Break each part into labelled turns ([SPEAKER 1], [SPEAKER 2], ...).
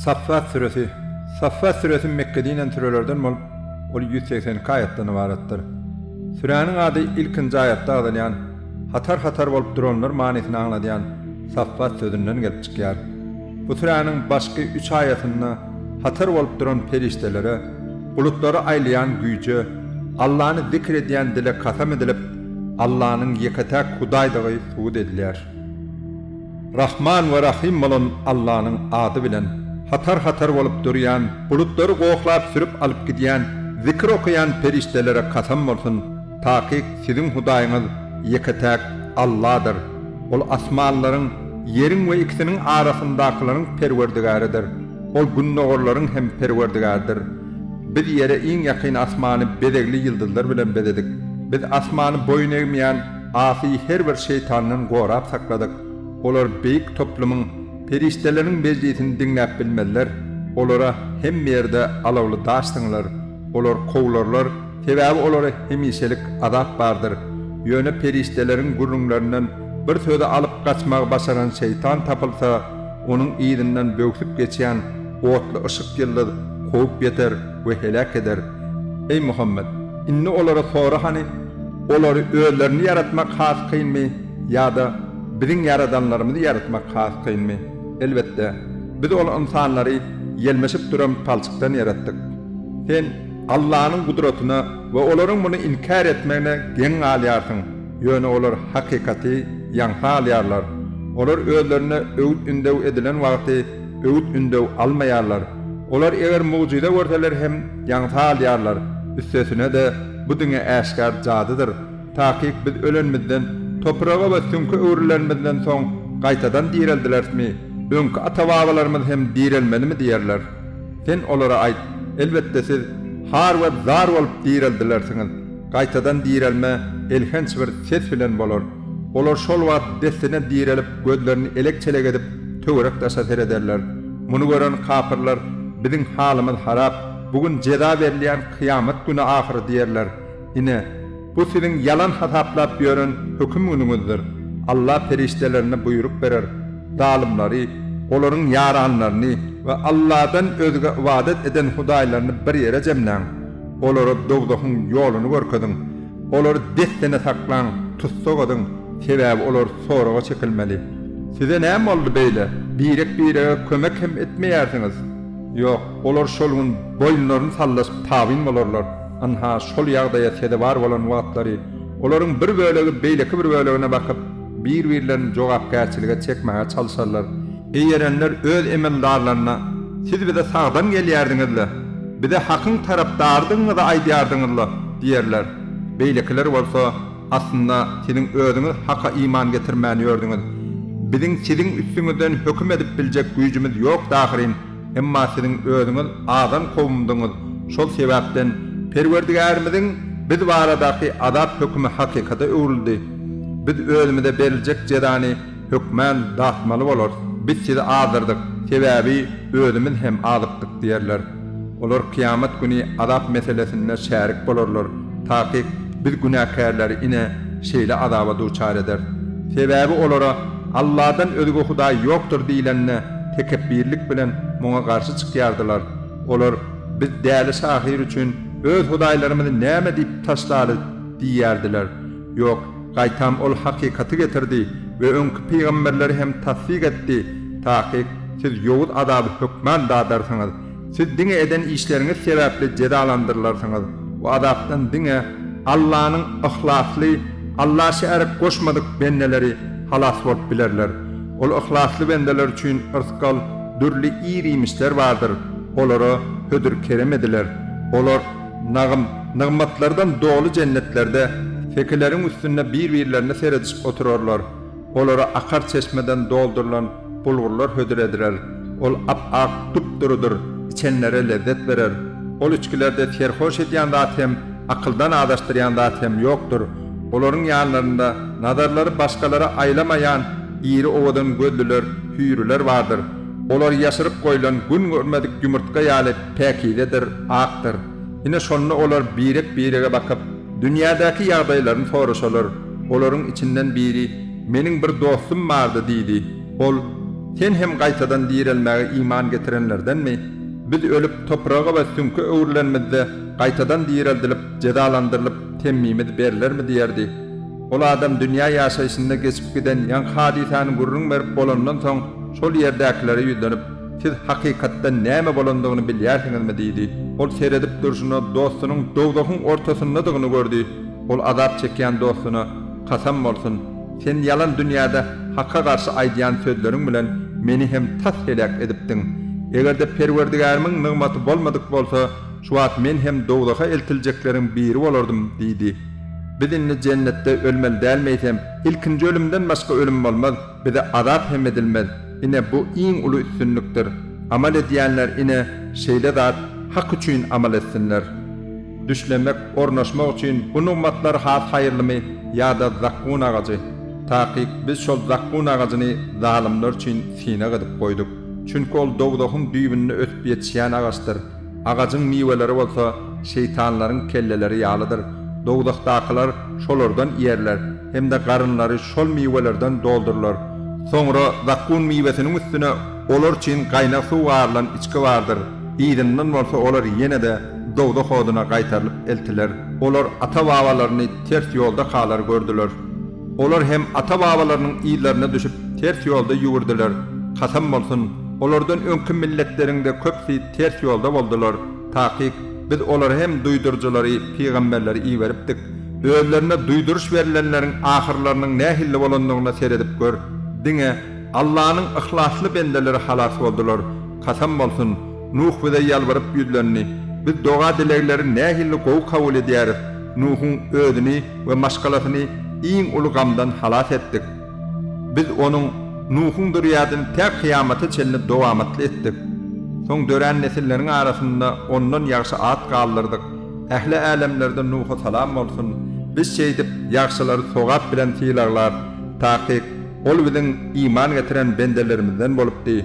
[SPEAKER 1] Saffat süresi Saffat süresi Mekgede inen sürelerden bolup, ol ýüz segsen iki aýatdan ybaratdyr. Süräniň ady ilkinji aýatda agzalýan, hatar-hatar bolup duranlar manysyny aňladýan Saffat sözünden gelip çykýar. Bu süräniň başky üç aýatynda hatar bolup duran perişdelere, bulutlary aýlaýan güýje, Allany zikr edýän dile kasam edilip, Allanyň ýeke-täk Hudaýdygy subut edilýär. Rahman we Rahym bolan Allanyň ady bilen hatar-hatar bolup durýan, bulutlary goklap sürüp alyp gidýän, zikir okaýan perişdelere kasam bolsun, takyk siziň Hudaýyňyz ýeke-täk Alladyr, Ol asmanlaryň, ýeriň we ikisiniň arasyndakylaryň Perwerdigäridir. Ol gündogarlaryň hem Perwerdigäridir. Biz Ýere iň ýakyn asmany bezegli ýyldyzlar bilen bezedik. Biz asmany boýun egmeýän asy her bir şeýtandan gorap sakladyk. Olar beýik toplumyň, perişdeleriň mejlisini diňläp bilmezler. Olara hemme ýerde alawly daş siňler. Olar kowlarlar, sebäbi olara hemişelik azap bardyr. Ýöne perişdeleriň gürrüňlerinden bir sözi alyp gaçmagy başaran şeýtan tapylsa, Onuň yzyndan böwsüp geçýän otly yşyk ýyldyz kowup ýeter we heläk eder. Eý Muhammet! Indi olary sora hany, olary özlerini ýaratmak has kynmy ýa-da Biziň ýaradanlarymyzy ýaratmak has kynmy? Elbetde, Biz ol ynsanlary ýelmeşip duran palçykdan ýaratdyk. Sen Allanyň gudratyna we olaryň muny inkär etmegine geň galýarsyň. Ýöne olar hakykaty ýaňsa alýarlar. Olar özlerine öwüt-ündew edilen wagty öwüt-ündew almaýarlar. Olar eger mugjyza görseler hem ýaňsa alýarlar. Üstesine-de, bu diňe äşgär jadydyr. Takyk biz ölenimizden, topraga we süňke öwrülenimizden soň gaýtadan direldilersmi? Öňki ata-babalarymyz hem direlmelimi diýerler. Sen olara aýt, Elbetde siz har we zar bolup direldilersiňiz. Gaýtadan direlme elhenç bir ses bilen bolar. Olar şol wagt dessine direlip, gözlerini elek-çelek edip, töwerek-daşa serederler. Muny gören kapyrlar, Biziň halymyz harap, bu gün jeza berilýän kyýamat güni ahyry diýerler. Ine, bu siziň ýalan hasaplap ýören höküm günüňizdir. Alla perişdelerine buýruk berer, zalymlary, olaryň ýaranlaryny we Alladan özge ybadat eden hudaýlaryny bir ýere jemläň. Olara dowzahyň ýoluny görkeziň. Olary dessine saklaň, tussag ediň, sebäbi olar soraga çekilmeli. Size näme boldy beýle? Birek-birege kömek hem etmeýärsiňiz. Ýok, olar şol gün boýunlaryny sallaşyp tabyn bolarlar. Ynha, şol ýagdaýa sezewar bolan wagtlary, olaryň bir bölegi beýleki bir bölegine bakyp, bir-birlerini jogapkärçilige çekmäge çalşarlar. Eý erenler öz emeldarlaryna, Siz bize sagdan gelýärdiňiz-le, bize hakyň tarapdarydygyňyzy aýdýardyňyz-la diýerler. Beýlekiler bolsa, Aslynda siziň özüňiz haka iman getirmän ýördüňiz. Biziň siziň üstüňizden höküm edip biljek güýjümiz ýokdy ahyryn. Emma siziň özüňiz adam kowumdyňyz, şol sebäpden Perwerdigärimiziň biz baradaky azap hökümi hakykata öwrüldi. Biz özümize beriljek jezany hökmän datmaly bolarys. Biz sizi azdyrdyk, sebäbi özümiz hem azykdyk diýerler. Olar kyýamat güni azap meselesinde şärik bolarlar. Takyk biz günäkärleri ine, şeýle azaba duçar ederis. Sebäbi olara, Allahdan özge hudaý ýokdur diýlende, tekepbirlik bilen muňa garşy çykýardylar. Olar, Biz däli şahyr üçin öz hudaýlarymyzy näme diýip taşlaly? diýýärdiler. Ýok, gaýtam ol hakykaty getirdi we öňki pygamberleri hem tassyk etdi. Takyk siz ýowuz azaby hökman dadarsyňyz. Siz diňe eden işleriňiz sebäpli jezalandyrylarsyňyz we azapdan diňe Allanyň yhlasly, Alla şärik goşmadyk bendeleri halas bolup bilerler. Ol yhlasly bendeler üçin yrsgal, dürli ir-iýmişler bardyr, olara hödür-kerem ediler. Olar nagym, nygmatlardan doly jennetlerde sekileriň üstünde bir-birlerine seredişip oturarlar. Olara akar çeşmeden doldurylan bulgurlar hödür ediler. Ol ap-ak, dup-durudyr, içenlere lezzet berer. Ol içgilerde serhoş edýän zat hem, akyldan azaşdyrýan zat hem ýokdur. Olaryň ýanlarynda nazarlary başgalara aýlamaýan iri owadan gözlüler, hüýrüler bardyr. Olar ýaşyryp goýlan gün görmedik ýumurtga ýaly päkizedir, akdyr. Ine şonda olar birek-birege bakyp, dünýädäki ýagdaýlaryny soraşalar. Olaryň içinden biri, Meniň bir dostum bardy diýdi. Ol, Sen hem gaýtadan direlmäge iman getirenlerdenmi? Biz ölüp, topraga we süňke öwrülenimizde, gaýtadan direldilip, jezalandyrylyp, temmimiz berilermi diýerdi. Ol adam dünýä ýaşaýşynda geçip giden ýaňky hadysany gürrüň berip bolandan soň, şol ýerdäkilere ýüzlenip, Siz hakykatdan näme bolandygyny bilýärsiňizmi? diýdi. Ol seredip durşuna dostunyň dowzahyň ortasyndadygyny gördi. Ol azap çekýän dostuna, Kasam bolsun, sen ýalan dünýäde Haka garşy aýdýan sözleriň bilen meni hem tas heläk edipdiň. Eger-de Perwerdigärimiň nygmaty bolmadyk bolsa, şu wagt men hem dowzaha eltiljekleriň biri bolardym diýdi. Biz indi jennetde ölmeli dälmi eýsem? Ilkinji ölümden başga ölüm bolmaz. Bize azap hem edilmez. Ine, bu iň uly üstünlikdir. Amal edýänler, ine, şeýle zat Hak üçin amal etsinler. Düşlemek, ornaşmak üçin bu nygmatlar has haýyrlymy ýa-da zakgun agajy? Takyk, Biz şol zakgun agajyny zalymlar üçin synag edip goýduk. Çünki ol dowzahyň düýbünde ösüp ýetişýän agaçdyr. Agajyň miweleri bolsa şeýtanlaryň kelleleri ýalydyr, dowzahdakylar şolardan iýerler hem-de garynlary şol miwelerden doldurylar. Soňra zakgun miwesiniň üstüne olar üçin gaýnag suw garylan içgi bardyr, yzyndan bolsa olar ýene-de dowzah oduna gaýtarylyp eltiler. Olar ata-babalaryny ters ýolda kalar gördüler. Olar hem ata-babalarynyň yzlaryna düşüp, ters ýolda ýüwürdiler. Kasam bolsun, olardan öňki milletleriň-de köpüsi Ters ýolda boldular. Takyk, Biz olara hem duýduryjylary, pygamberleri iberipdik. Özlerine duýduryş berlenleriň ahyrlarynyň nähilli bolandygyna seredip gör. Diňe Allanyň yhlasly bendeleri halas boldular. Kasam bolsun, Nuh bize ýalbaryp ýüzlendi. Biz doga-dilegleri nähilli gowy kabul edýäris. Nuhuň özüni we maşgalasyny iň uly gamdan halas etdik. Biz onuň Nuhuň dürýädini tä kyýamata çenli dowamatly etdik. Soň dörän nesilleriň arasynda ondan ýagşy at galdyrdyk. Ähli älemlerde Nuha salam bolsun! Biz şeýdip, ýagşylary sogap bilen sylaglar. Takyk, ol biziň iman getiren bendelerimizden bolupdy.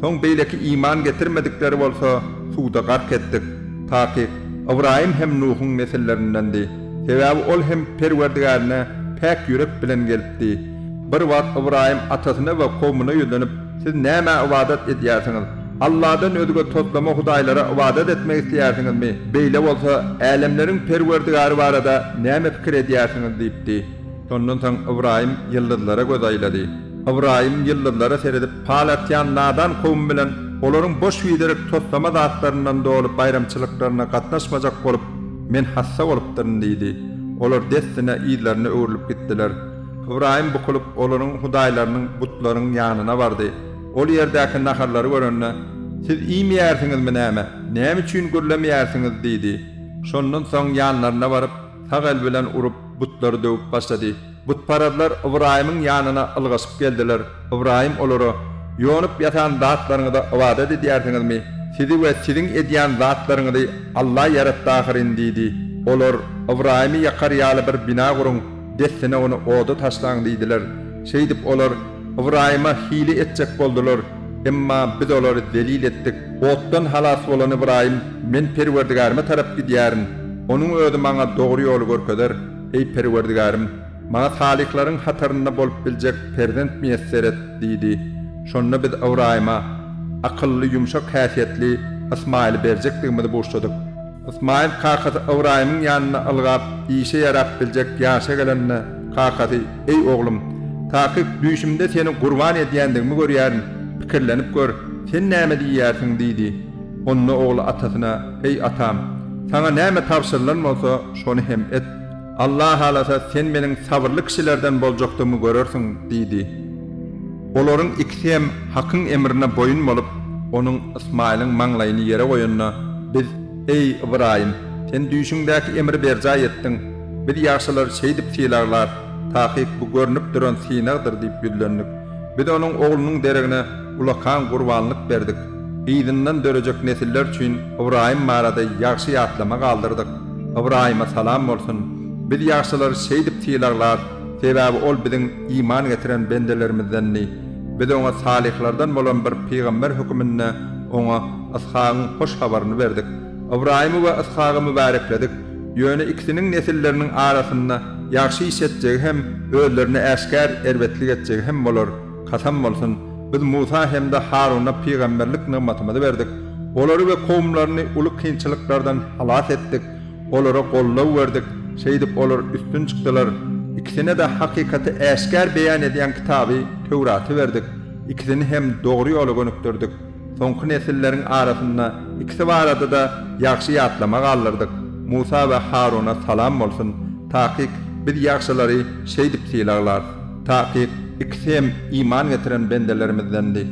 [SPEAKER 1] Soň beýleki iman getirmedikleri bolsa suwda gark etdik. Takyk, Ybraýym hem Nuhuň nesillerindendi. Sebäbi ol hem Perwerdigärine päk ýürek bilen gelipdi. Bir wagt Ybraýym atasyna we kowmuna ýüzlenip, Siz nämä ybadat edýärsiňiz? Alladan özge toslama hudaýlara ybadat etmek isleýärsiňizmi? Beýle bolsa, älemleriň Perwerdigäri barada näme pikir edýärsiňiz? diýipdi. Şondan soň Ybraýym ýyldyzlara göz aýlady. Ybraýym ýyldyzlara seredip pal atýan nadan kowum bilen olaryň boş-biderek toslama zatlaryndan doly baýramçylyklaryna gatnaşmajak bolup, Men hassa bolupdyryn diýdi. Olar dessine yzlaryna öwrülip gitdiler. Ybraýym bukulyp, olaryň hudaýlarynyň, butlaryň, ýanyna bardy. Ol ýerdäki naharlary görende, Siz iýmeýärsiňizmi näme? Näme üçin gürlemeýärsiňiz? diýdi. Şondan soň ýanlaryna baryp, sag el bilen urup, butlary döwüp başlady. Butparazlar Ybraýymyň ýanyna ylgaşyp geldiler. Ybraýym olara, Ýonup ýatan zatlaryňyza ybadat edýärsiňizmi? Sizi we siziň edýän zatlaryňyzy Alla ýaratdy ahyryn diýdi. Olar, Ybraýymy ýakar ýaly bir bina guruň, dessine ony oda taşlaň diýdiler. Şeýdip, olar Ybraýyma hile etjek boldular. Emma Biz olary zelil etdik. Otdan halas bolan Ybraýym, Men Perwerdigärime tarap gidýärin. Onuň Özi maňa dogry ýoly görkezer. Eý, Perwerdigarim, maňa salyhlaryň hatarynda bolup biljek perzent miýesser et! diýdi. Şonda biz Ybraýyma akylly, ýumşak häsiýetli Ysmaýyly berjekdigimizi buşladyk. Ysmaýyl kakasy Ybraýymyň ýanynda ylgap, işe ýarap biljek ýaşa gelende, kakasy, Eý, oglum, takyk düýşümde seni gurban edýändigimi görýärin, pikirlenip gör, sen näme diýýärsiň? diýdi. Onda ogly atasyna, Eý atam, saňa näme tabşyrylan bolsa, şony hem et. Allah halasa, sen meniň sabyrly kişilerden boljakdygymy görersiň diýdi. Olaryň ikisi hem Hakyň emrine boýun bolup, onuň, Ysmaýylyň, maňlaýyny ýere goýanyna, Biz, eý, Ybraýym, sen düýşüňdäki emri berjaý etdiň. Biz ýagşylary şeýdip sylaglarys, takyk bu görnüp duran synagdyr diýip ýüzlendik. Biz onuň oglunyň deregine, Ulakan gurbanlyk berdik. Yzyndan dörejek nesiller üçin Ybraýym barada ýagşy ýatlama galdyrdyk. Ybraýyma salam bolsun! Biz ýagşylary şeýdip sylaglar, sebäbi ol biziň iman getiren bendelerimizdendi. Biz oňa salyhlardan bolan bir pygamber höküminde oňa Yshagyň hoş habaryny berdik. Ybraýymy we Yshagy mübärekledik. Ýöne ikisiniň nesilleriniň arasynda ýagşy iş etjegi hem özlerine äşgär erbetlik etjegi hem bolar. Kasam bolsun, biz Musa hem-de Haruna pygamberlik nygmatymyzy berdik, olary we kowumlaryny uly kynçylyklardan halas etdik, olara goldaw berdik, şeýdip, olar üstün çykdylar. Ikisine-de hakykaty äşgär beýan edýän kitaby, Töwraty berdik, ikisini hem dogry ýola gönükdirdik. Soňky nesilleriň arasynda ikisi barada-da ýagşy ýatlama galdyrdyk, Musa we Haruna salam bolsun! Takyk, biz ýagşylary şeýdip sylaglarys. Takyk, ikisi hem iman getiren bendelerimizdendi.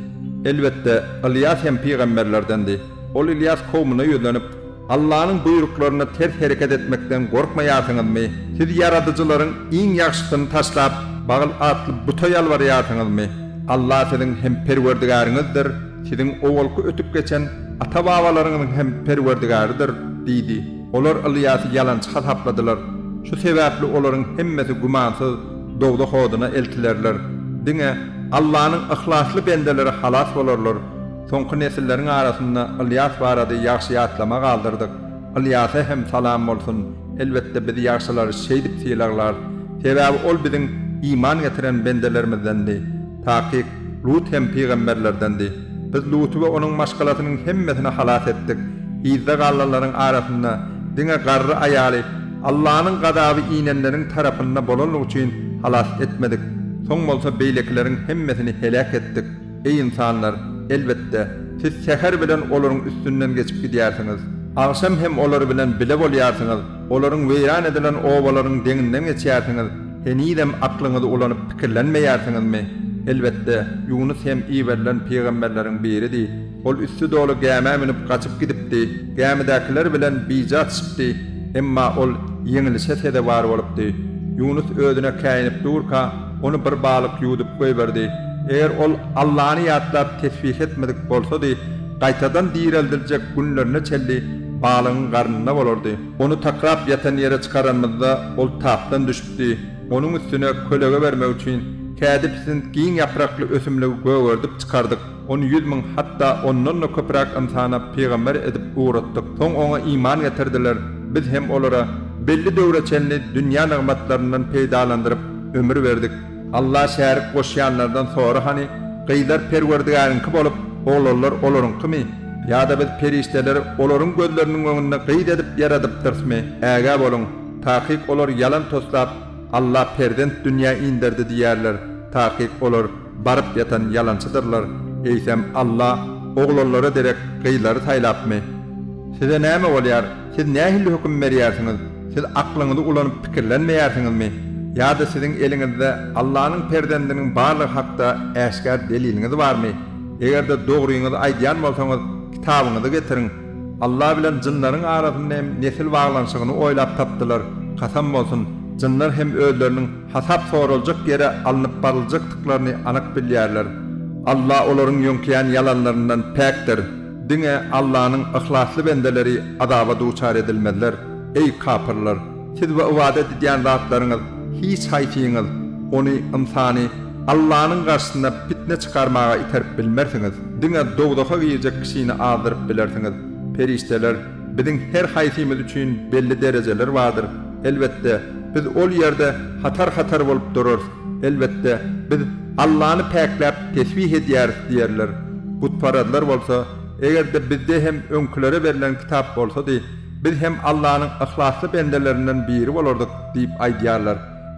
[SPEAKER 1] Elbetde, Ylýas hem pygamberlerdendi. Ol Ylýas kowmuna ýüzlenip. Allanyň buýruklaryna ters hereket etmekden gorkmaýarsyňyzmy? Siz ýaradyjylaryň iň ýagşysyny taşlap, Bagyl atly buta ýalbarýarsyňyzmy? Alla siziň hem Perwerdigäriňizdir, siziň owalky ötüp geçen ata-babalaryňyzyň hem Perwerdigarydyr, diýdi. Olar Ylýasy ýalançy hasapladylar. Şu sebäpli olaryň hemmesi gümansyz dowzah oduna eltilerler. Diňe Allanyň yhlasly bendeleri halas bolarlar. Soňky nesilleriň arasynda Ylýas barada ýagşy ýatlama galdyrdyk. Ylýasa hem salam bolsun! Elbetde biz ýagşylary şeýdip sylaglarys. Sebäbi ol biziň iman getiren bendelerimizdendi. Takyk, Lut hem pygamberlerdendi. Biz Luty we onuň maşgalasynyň hemmesini halas etdik. Yzda galanlaryň arasynda diňe garry aýaly Allanyň gazaby inenleriň tarapynda bolanlygy üçin halas etmedik. Soň bolsa beýlekileriň hemmesini heläk etdik. Eý ynsanlar! Elbetde, siz säher bilen olaryň üstünden geçip gidýärsiňiz. Agşam hem olar bilen bile bolýarsyňyz, olaryň weýran edilen obalaryň deňinden geçýärsiňiz, henizem aklyňyzy ulanyp pikirlenmeýärsiňizmi? Elbetde, Ýunus hem iberilen pygamberleriň biridi. Ol üsti doly gämä münüp gaçyp gidipdi. Gämidäkiler bilen bija çykdy, emma ol ýeňlişe sezewar bolupdy. Ýunus özüne käýinip durka, ony bir balyk ýuwdup goýberdi. Eger ol Allany ýatlap tesbih etmedik bolsady, gaýtadan direldiljek günlerine çenli balygyň garnynda bolardy. Ony takrap ýatan ýere çykaranymyzda, ol tapdan düşüpdi. Onuň üstüne kölege bermek üçin, kädi pisint giň ýaprakly ösümligi gögerdip çykardyk. Ony ýüz müň, hatda ondan-da köpräk ynsana pygamber edip ugratdyk. Soň oňa iman getirdiler. Biz hem olara belli döwre çenli dünýä nygmatlaryndan peýdalandyryp, ömür berdik. Alla şärik goşýanlardan sora hany, gyzlar Perwerdigäriňki bolup, oglanlar olaryňkymy? Ýa-da biz perişdeleri olaryň gözleriniň öňünde gyz edip ýaradypdyrysmy? Ägä boluň! Takyk olar ýalan toslap, Alla perzent dünýä inderdi diýerler. Takyk olar. Baryp ýatan ýalançydyrlar, eýsem Alla oglanlara derek gyzlary saýlapmy? Size näme bolýar, siz nähilli höküm berýärsiňiz, siz aklyňyzy ulanyp pikirlenmeýärsiňizmi? Ýa-da siziň eliňizde Allanyň perzendiniň barlygy hakda äşgär deliliňiz barmy? Eger-de dogryňyzy aýdýan bolsaňyz, kitabyňyzy getiriň. Alla bilen jynlaryň arasynda hem nesil baglanyşygyny oýlap tapdylar, kasam bolsun, jynlar hem özleriniň hasap soraljak ýere alnyp baryljakdyklaryny anyk bilýärler. Alla olaryň ýöňkeýän ýalanlaryndan päkdir. Diňe Allanyň yhlasly bendeleri azaba duçar edilmezler. Eý, kapyrlar! Siz we ybadat edýän zatlaryňyz hiç haýsyňyz ony, ynsany, Allanyň garşysyna pitne çykarmaga iterip bilmersiňiz. Diňe dowzaha girjek kişini azdyryp bilersiňiz. Perişdeler. Biziň her haýsymyz üçin belli derejeler bardyr. Elbetde, biz ol ýerde hatar-hatar bolup durarys. Elbetde, biz Allany päkläp tesbih edýäris diýerler. Butparazlar bolsa, Eger-de bizde hem öňkülere berlen kitap bolsady, biz hem Allanyň yhlasly bendelerinden biri bolardyk diýip aýdýarlar.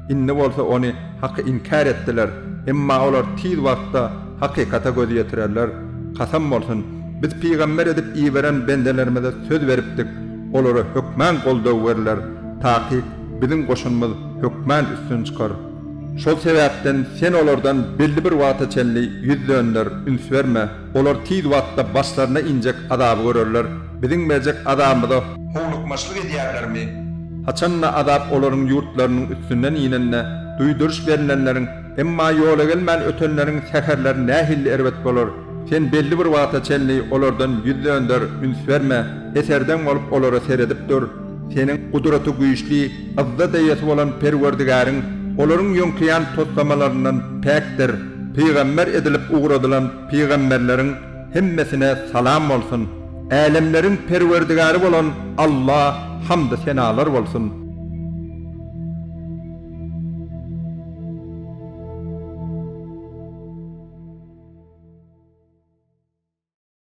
[SPEAKER 1] Indi bolsa ony haky inkär etdiler, emma olar tiz wagtda hakykata göz ýetirerler. Kasam bolsun! Biz pygamber edip iberen bendelerimize söz beripdik, olara hökman goldaw berler, takyk biziň goşunymyz hökman üstün çykar. Şol sebäpden sen olardan belli bir wagta çenli ýüz dönder, üns berme, olar tiz wagtda başlaryna injek azaby görerler. Biziň berjek azabymyza. Howlukmaçlyk edýärlermi? Haçan-da azap olaryň ýurtlarynyň üstünden inende, duýduryş berlenleriň, emma ýola gelmän ötenleriň säherleri nähilli erbet bolar! Sen belli bir wagta çenli olardan ýüz dönder, üns berme, eserdeň bolup olara seredip dur. Seniň Gudratygüýçli, Yzzat eýesi bolan Perwerdigäriň olaryň ýöňkeýän toslamalaryndan päkdir. Pygamber edilip ugradylan pygamberleriň. Hemmesine salam bolsun! Älemleriň Perwerdigary bolan Alla hamdy senalar bolsun!